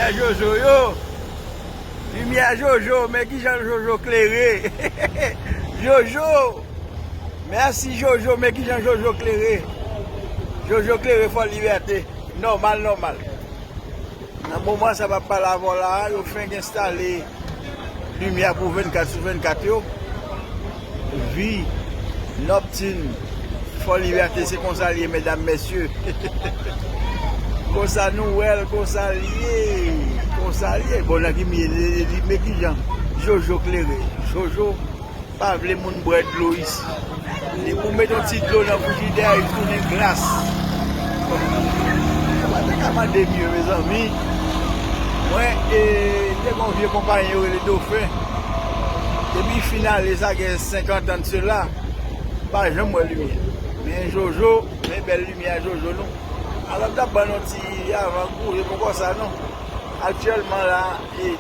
Limyè jojo yo Limyè jojo men kijan jojo klere Jojo Mèsi jojo men kijan jojo klere Jojo klere fò libète Nòmal nòmal Nan moman sa map pale avèw la a yo fenk enstale limyè pou 24 sou 24 yo, vi nòktin fò libète se konsa l ye medam mesye konsa nou wèl konsa l ye konsa l ye bon nan ki milye li ye men kijan jojo klere jojo. Pa vle moun bwè dlo isi. Depi ou met yon ti dlo nan frijidè li tounen glas. Ou pa ta ka mande mye mezanmi. Mwen e te gen yon vye konpayen yo rele Dofen. Depi fin ale sa gen 50 an de sela. M pa janm wè limyè. Men Jojo, men bèl limyè a Jojo nou. Alò m ta ban nou yon ti avan gou, se poko sa non. Aktyèlman la,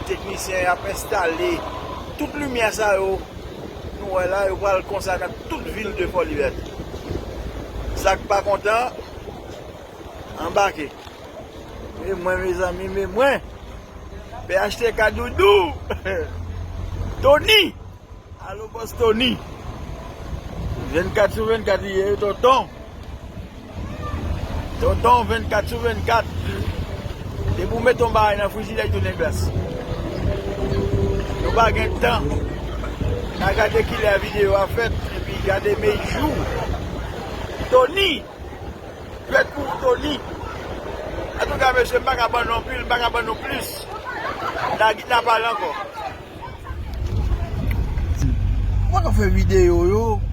teknisyen y ap enstale. Tout limyè sa yo nou wè la yo pral konsa nan tout vil de Fòlibète. Sak pa kontan anbake. Men mwen mezanmi men mwen phtk doudou Tony alo bòs Tony 24 sou 24 li ye tonton. Tonton 24 sou 24 depi ou met yon bagay nan frijidè li tounen glas. Nou pa gen tan na gade kilè video a fèt epi gade me jou Tony fèt pou Tony Antouka mesye m pa ka ban nou anpil m pa ka ban nou plis na git na pale ankò. Ou pa ka fè video yo.